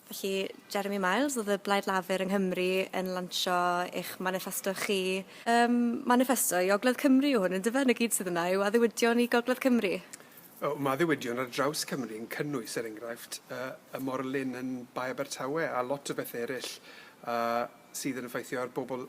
Felly, Jeremy Miles oedd y Blaid Lafur yng Nghymru yn lansio eich maniffesto chi. Ym maniffesto i Ogledd Cymru yw hwn, yndyfe? 'Na gyd sydd yna yw addewidion i Gogledd Cymru? O, mae addewidion ar draws Cymru yn cynnwys, er enghraifft, y, y morlyn yn Bae Abertawe a lot o bethe eryll, a sydd yn effeithio ar bobl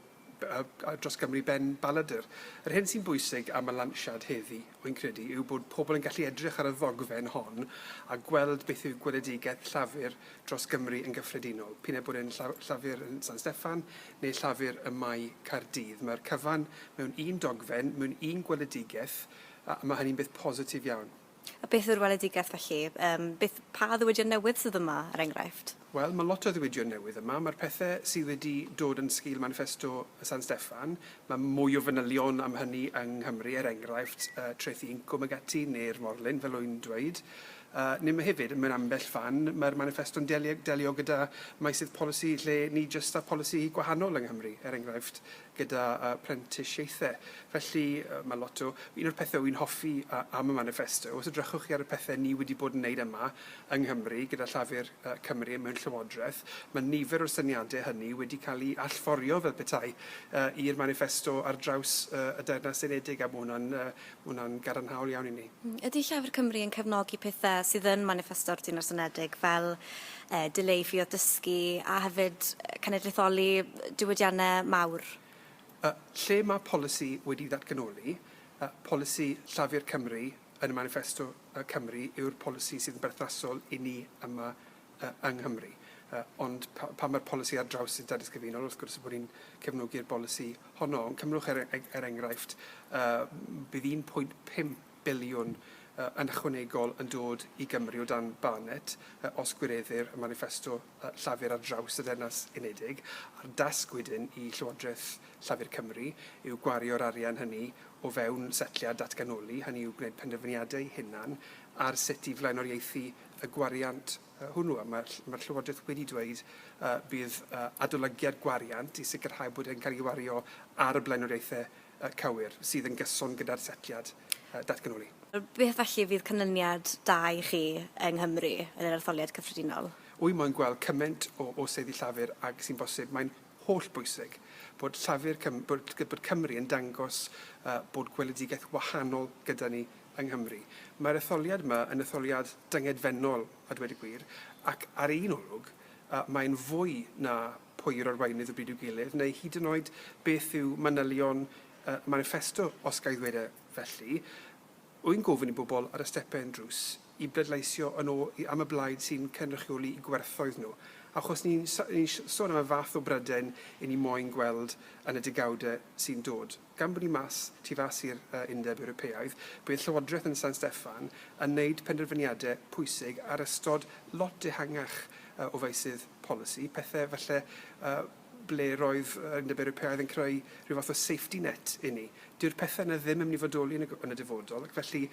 dros Gymru ben Balladur. Yr hyn sy'n bwysig am y lansiad heddi, wy'n credu, yw bod pobl yn gallu edrych ar y ddogfen hon a gweld beth yw gweledigaeth Llafur dros Gymru yn gyffredinol, p'un a bod e'n Llafur yn San Steffan neu Llafur ym Mae Caerdydd. Mae'r cyfan mewn un dogfen, mewn un gweledigaeth, a mae hynny'n beth positif iawn. A beth yw'r weledigaeth felly? Yym, beth, pa ddiwydion newydd sydd yma, er enghraifft? Wel, mae lot o ddiwydion newydd yma. Mae'r pethe sydd wedi dod yn sgil maniffesto y San Steffan, mae mwy o fanylion am hynny yng Nghymru, er enghraifft, yy, Traethu Incwm ag ati, neu'r Morlyn, fel wy'n dweud. Yy, neu mae hefyd, mewn ambell fan, mae'r maniffesto'n deli- delio gyda meysydd polisi lle ni jyst â polisi gwahanol yng Nghymru, er enghraifft, gyda phrentisiaethau. Felly, mae lot o... Un o'r pethau wy'n hoffi am y maniffesto, os edrychwch chi ar y pethau ni wedi bod yn wneud yma yng Nghymru gyda Llafur Cymru mewn Llywodraeth, mae nifer o'r syniadau hynny wedi cael eu allforio fel petai i'r maniffesto ar draws y Deyrnas Unedig, a mae hwnna'n Mae hwnna'n gadarnhaol iawn i ni. Ydy Llafur Cymru yn cefnogi pethau sydd yn maniffesto'r Dinas Unedig fel e, dileu ffïoedd dysgu a hefyd cenedlaetholi diwydiannau mawr? E, lle mae polisi wedi ddatganoli, e, polisi Llafur Cymru yn y maniffesto e, Cymru yw'r polisi sydd yn berthnasol i ni yma yng Nghymru. Ond pan mae'r polisi ar draws y Deddf Cyfunol, wrth gwrs bod ni'n cefnogi'r bolisi honno. Ond cymrwch er, er enghraifft, bydd 1.5 biliwn yn ychwanegol yn dod i Gymru o dan Barnett os gwireddir y maniffesto Llafur ar draws y Deyrnas Unedig, a'r dasg wedyn i Llywodraeth Llafur Cymru yw gwario'r arian hynny o fewn setliad datganoli, hynny yw gwneud penderfyniadau hunan ar sut i flaenoriaethu y gwariant hwnnw. A mae'r mae'r Llywodraeth wedi dweud y bydd y adolygiad gwariant i sicrhau bod e'n cael ei wario ar y blaenoriaethau y cywir, sydd yn gyson gyda'r setliad y datganoli. Beth felly fydd canlyniad da i chi yng Nghymru yn yr etholiad cyffredinol? Wy moyn gweld cymaint o o seddi Llafur ag sy'n bosib. Mae'n holl bwysig bod Llafur Cym bod bod Cymru yn dangos y bod gweledigaeth wahanol gyda ni yng Nghymru. Mae'r etholiad yma yn etholiad dyngedfennol, a dweud y gwir, ac ar un olwg, mae'n fwy na pwy'r arweinydd o bryd i'w gilydd, neu hyd yn oed beth yw manylion maniffesto, os ga i ddweud e felly. Rwy'n gofyn i bobl ar y stepau yn drws i bleidleisio yn ôl am y blaid sy'n cynrychioli'u gwerthoedd nhw, achos ni'n sôn am y fath o Brydain 'yn ni moyn gweld yn y degawdau sy'n dod. Gan bod ni mas tu fas i'r Undeb Ewropeaidd, bydd Llywodraeth yn San Steffan yn wneud penderfyniadau pwysig ar ystod lot ehangach o feysydd polisi, pethau falle ble roedd yr Undeb Ewropeaidd yn creu rhyw fath o safety net i ni. Dyw'r pethau yna ddim yn mynd i fodoli yn y yn y dyfodol ac felly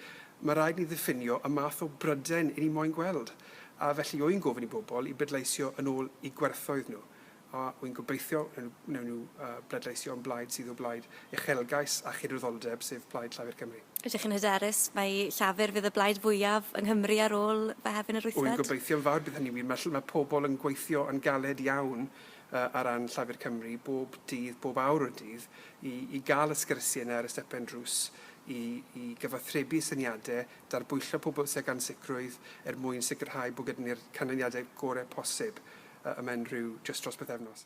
mae rhaid ni ddiffinio y math o Brydain 'yn ni moyn gweld, a felly wy'n gofyn i bobl i bleidleisio yn ôl i gwerthoedd nhw. a wy'n gobeithio wnewn nhw bleidleisio yn blaid sydd o blaid uchelgais a chydwyddoldeb, sef Plaid Llafur Cymru. Ydych chi'n hyderus mai Llafur fydd y blaid fwyaf yng Nghymru ar ôl Mehefin yr wythfed? Wy'n gobeithio'n fawr bydd hynny'n wir. Mae mae pobl yn gweithio yn galed iawn ar ran Llafur Cymru bob dydd, bob awr o'r dydd, i i gael y sgyrsiau yna ar y stepen drws, i i gyfathrebu syniadau, darbwyllo pobl tuag ansicrwydd er mwyn sicrhau bod gyda ni'r canlyniadau gorau posib. y ymen rhyw jyst dros bythefnos.